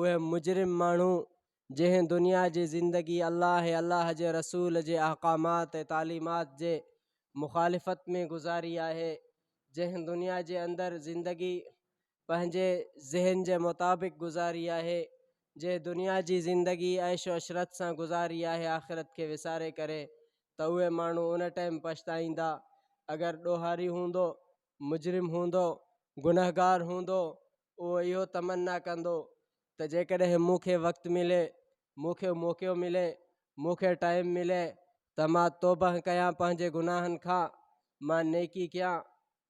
اهي مجرم ماڻهو جنهن دنيا جي زندگي الله ۽ الله جي رسول جي احڪامات ۽ تعليمات جي مخالفت ۾ گذاري آهي، جنهن دنيا جي اندر زندگي پنهنجي ذهن جي مطابق گذاري آهي، جنهن دنيا جي زندگي عيش و عشرت سان گذاري آهي آخرت کي وساري ڪري ته اهي ماڻهو ان ٽائيم پڇتائيندا اگر ڏوهاري هوندو، مجرم هوندو، گنهگار هوندو اهو اهو تمنا ڪندو ته جيڪڏهن مون کي وقت ملي، مون کي موقعو ملي، مون کي ٽائيم ملي ته مان توبهه ڪيان پنهنجي گناهن کان، مان نيڪي ڪيان،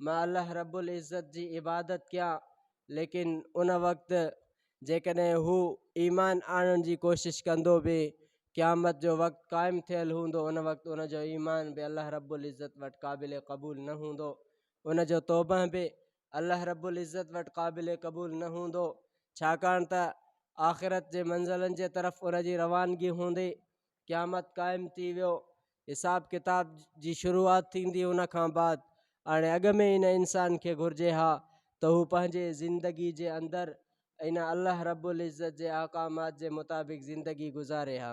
مان الله رب العزت جي عبادت ڪيان، ليڪن ان وقت جيڪڏهن هو ايمان آڻڻ جي ڪوشش ڪندو به قيامت جو وقت قائم ٿيل هوندو ان وقت ان جو ايمان به الله رب العزت وٽ قابل قبول نه هوندو، ان جو توبهه به الله رب العزت وٽ قابل قبول نه هوندو ڇاڪاڻ ته آخرت جي منزلن جي طرف ان جي روانگي هوندي قيامت قائم ٿي ويو حساب ڪتاب جي شروعات ٿيندي ان کان بعد هاڻي اڳ ۾ ان انسان کي گهرجي ها ته هو پنهنجي زندگي جي اندر ان الله رب العزت جي احڪامات جي مطابق زندگي گذاري ها